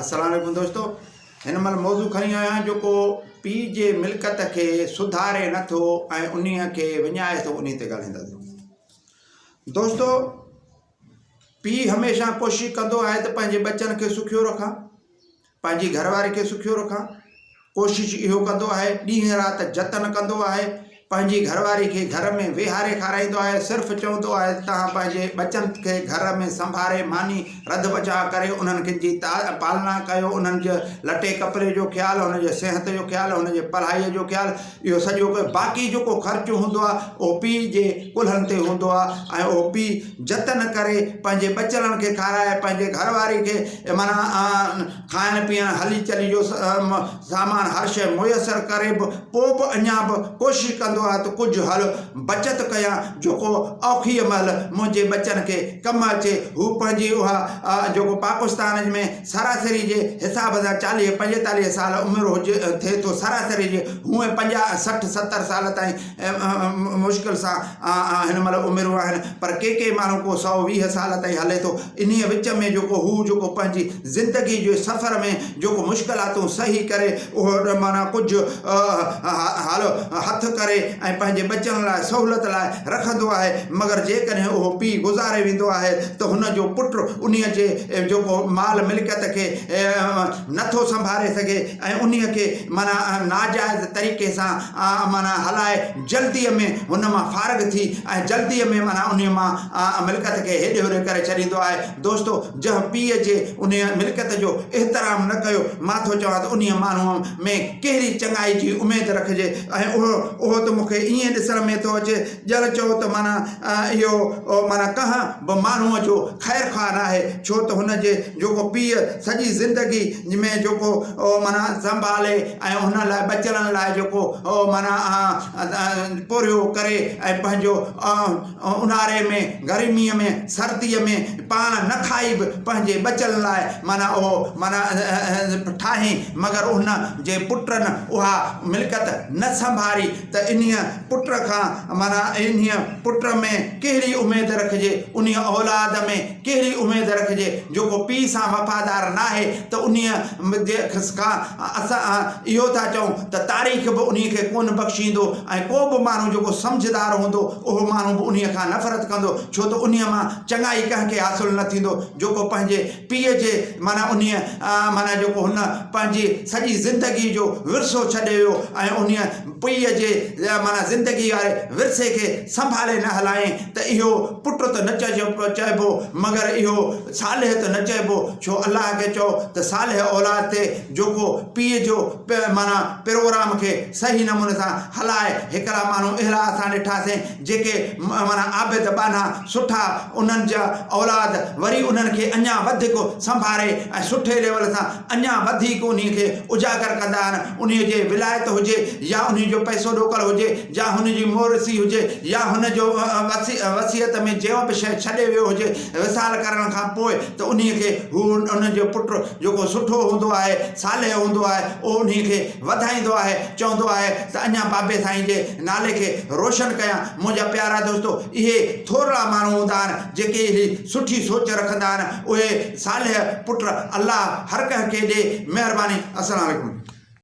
السلام عليڪم دوستو هن مهل موضوع کڻي آيو آهيان جيڪو پي جي ملڪت کي سڌاري نه ٿو ۽ انهي کي وڃائي ٿو انهي تي ڳالهائينداسون دوستو پي هميشه ڪوشش ڪندو آهي ته پنهنجي ٻچن کي سکيو رکان پنهنجي گهر واري کي سکيو رکان ڪوشش اهو ڪندو آهي ڏينهن رات جتن ڪندو آهي پنهنجي گهر واري کي گهر ۾ ويهاري کارائيندو آهي صرف چوندو آهي ته توهان پنهنجي ٻچن کي گهر ۾ سنڀاري ماني رڌ بچاء ڪريو انهن کن جي پالنا ڪيو انهن جي لٽي ڪپڙي جو خيال انهن جي صحت جو خيال انهن جي پڙهائي جو خيال اهو سڄو ڪيو باقي جيڪو خرچ هوندو آهي اهو پيء جي ڪلهن تي هوندو آهي ۽ اهو پيء جتن ڪري پنهنجي ٻچڙن کي کارائي پنهنجي گهر واري کي معنيٰ کائڻ پيئڻ، هلي چلي جو اهم سامان هر شيء ميسر ڪري به پوء به اڃا به ڪوشش ڪندو آهي ته ڪجهه هل بچت ڪيان جو ڪو اوکيء مهل منهنجي ٻچن کي ڪم اچي. هو پنهنجي اها جيڪو پاڪستان ۾ سراسري جي حساب سان چاليهه پنجيتاليهه سال عمر هجي ٿئي ٿو سراسري جي هونئن پنجاهه سٺ ستر سال تائين مشڪل سان هن مهل عمرون آهن پر ڪي ڪي ماڻهو ڪو سؤ ويهه سال تائين هلي ٿو انهيء وچ ۾ جيڪو هو جيڪو پنهنجي زندگي جي سفر ۾ جيڪو مشڪلاتون سهي ڪري اهو معنيٰ ڪجهه هٿ ڪري ۽ پنهنجي ٻچن لاء سهولت لاء رکندو آهي مگر جيڪڏهن اهو پيء گذاري ويندو آهي ته هن جو پٽ انهيء جي جيڪو مال ملڪيت کي نٿو سنڀاري سگهي ۽ انهيء کي معنيٰ ناجائز طريقي سان آء معنيٰ هلائي جلديء ۾ هن مان فارغ ٿي ۽ جلديء ۾ معنيٰ انهيء مان آء ملڪت کي هيڏي هوري ڪري ڇڏيندو آهي. دوستو! جنهن پيء جي انهيء ملڪت جو احترام نه ڪيو، مان ٿو چوان ته انهيء ماڻهوء ۾ ڪهڙي چڱائي جي اميد رکجي ۽ اهو اهو ته مون کي ائين ڏسڻ ۾ ٿو اچي ڄڻ چئو ته معنيٰ اهو معنيٰ ڪنهن به ماڻهوء جو خير خواهه ناهي ڇو ته هن جي جيڪو پيء سڄي زندگي ۾ جيڪو معنيٰ سنڀالي ۽ هن لاء ٻچڙن لاء جيڪو معنيٰ پورهيو ڪري ۽ پنهنجو اونهاري ۾ گرميء ۾ سرديء ۾ پاڻ نه کائي به پنهنجي ٻچڙن لاء معنيٰ اهو معنيٰ ٺاهين مگر ان جي پٽن اها ملڪيت نه سنڀاري ته انهيء پٽ کان معنيٰ انهيء پٽ ۾ ڪهڙي اميد رکجي انهيء اولاد ۾ ڪهڙي اميد رکجي؟ جيڪو پيء سان وفادار ناهي ته انهيء جي کان اسان اهو ٿا چئون ته تاريخ به انهيء کي ڪونه بخشيندو ۽ ڪو به ماڻهو جيڪو سمجهدار هوندو اهو ماڻهو به انهيء کان نفرت ڪندو ڇو ته انهيء مان چڱائي ڪنهن کي حاصل نه ٿيندو جيڪو پنهنجي پيء جي معنيٰ انهيء معنيٰ جيڪو هن پنهنجي سڄي زندگيء جو ورثو ڇڏي ويو ۽ انهيء پيء جي معنيٰ زندگيء واري ورثي کي سنڀالي نه هلائين ته اهو پٽ ته نه چئبو، مگر اهو صالح ته نه چئبو، ڇو الله کي چئو ته صالح اولاد ٿئي، جيڪو پيء جو معنيٰ پروگرام کي صحيح نموني سان هلائي، هڪڙا ماڻهو اهڙا اسان ڏٺاسين، جيڪي معنيٰ عابد ٻانها سٺا انهن جا اولاد وري انهن کي اڃان وڌيڪ سنڀاري ۽ سٺي ليول سان اڃان وڌيڪ انهي کي اجاگر ڪندا آهن انهي جي ولايت هجي يا انهي جو پئسو ڏوڪڙ هجي يا هن جي مورثي هجي يا هن جو وصيت ۾ جيئو به شئي ڇڏي ويو هجي وصال ڪرڻ کان پوء ته انهي کي هو انهن جو پٽ جيڪو سٺو هوندو آهي صالح هوندو آهي اهو انهي کي وڌائيندو آهي، چوندو آهي ته اڃا بابي سائين جي نالي کي روشن ڪيان، منهنجا پيارا دوستو اهي ٿورڙا ماڻهو هوندا آهن جيڪي اهڙي سٺي سوچ رکندا آهن، اهي صالح پٽ الله هر ڪنهن کي ڏي، مهرباني السلام عليڪم.